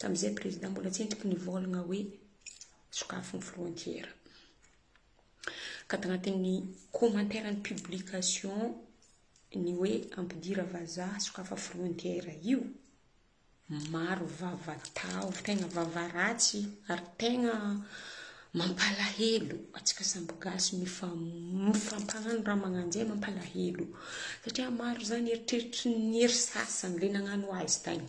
Tamin'izay président mbola tsy entiko nivolagna hoe sokafy ny frontière. Ka tagnatin'ny commentaire ny publication ny hoe ampidira vazaha sokafa frontière io, maro vava tahotra, tegna vava ratsy ary tegna mampalahelo antsika samby gasy mifampagnano raha magnanjay mampalahelo satria maro zany eritreritry ny hery sasany le nagnano azy tagny.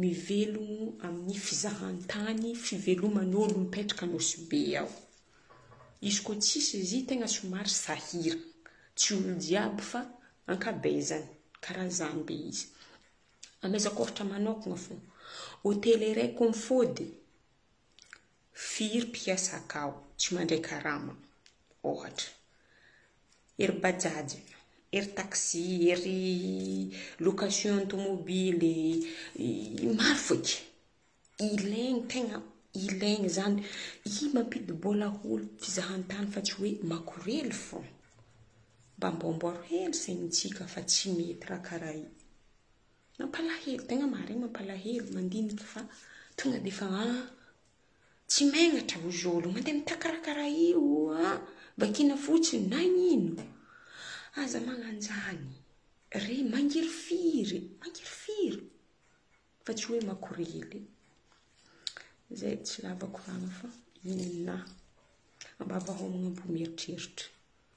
Mivelomo amin'ny fizahan-tany fiveloman'olo mipetraka Nosy Be ao. Izy koa tsisy izy tegna somary sahira. Tsy olo jiaby fa ankabezany karaha zany be izy. Amezako ohatra manokagna fô, hotely iray koa mifody, firy mpiasa akao? Tsy mandray karama. ohatra, ery bajaj, ery taxi, ery location tomobily, maro fo e. Ilaigny tegna ilaigny izany. Io mampidi-bola ho fizahan-tany fa tsy hoe makorely fo. Mba amboamboaro hely sainintsika fa tsy mety raha karaha io. Mampalahelo, tegna marigny mampalahelo mandinika fa tonga dia efa an. Tsy megnatra aho zolo, mandeha mitaky raha karaha io an! Vakina fotsiny, nagnino? Aza magnanjany re, mangirifiry, mangirifiry fa tsy hoe makorely. Zay, tsy lava koragna fa inona? Ambava hao magnamboa mieritreritra.